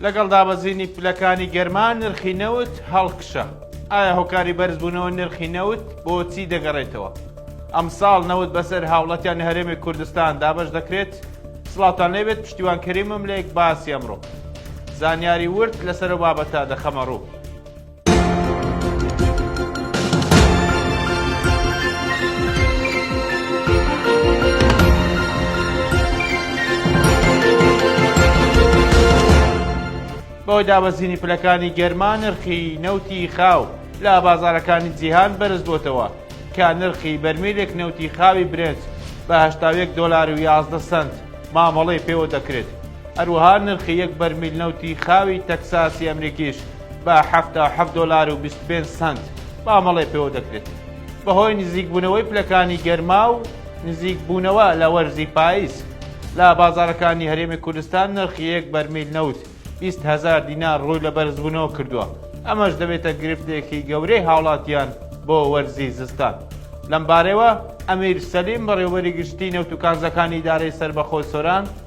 لەگەڵ دابەزینی پلەکانی گەرما نرخی نەوت هەڵکشە ئایا هۆکاری بەرزبوونەوە نرخی نەوت بۆچی دەگەڕێتەوە ئەمساڵ نەوت بەسەر هاوڵەتیان هەرێمی کوردستان دابش دەکرێت سڵاتان لێبێت پشتیوان کەریمم لێک باسی ئەمڕۆ زانیاری ورد لەسەر بابەتە دەخەمە ڕوو بەهۆی دابەزینی پلەکانی گەرما نرخی نەوتی خاو لە بازارەکانی جیهان بەرز بۆتەوە کە نرخی بەرمیلێک نەوتی خاوی برنج بە هشتاوێک دۆلار و یازدە سنت مامەڵەی پێوە دەکرێت هەروەها نرخی یەک بەرمیل نەوتی خاوی تەکساسی ئەمریکیش بە حەفتا و حەفت دۆلار و بیست و پێنج سەنت مامەڵەی پێوە دەکرێت. بەهۆی نزیکبوونەوەی پلەکانی گەرما و نزیکبوونەوە لە وەرزی پایز، لە بازاڕەکانی هەرێمی کوردستان نرخی یەک بەرمیل نەوت بیست هەزار دینار ڕووی لە بەرزبوونەوە کردووە، ئەمەش دەبێتە گرفتێکی گەورەی هاوڵاتیان بۆ وەرزی زستان. لەمبارەیەوە ئەمیر سەلیم بەڕێوەبەری گشتیی نەوت و کانزاکانی ئیدارەی سەربەخۆی سۆران،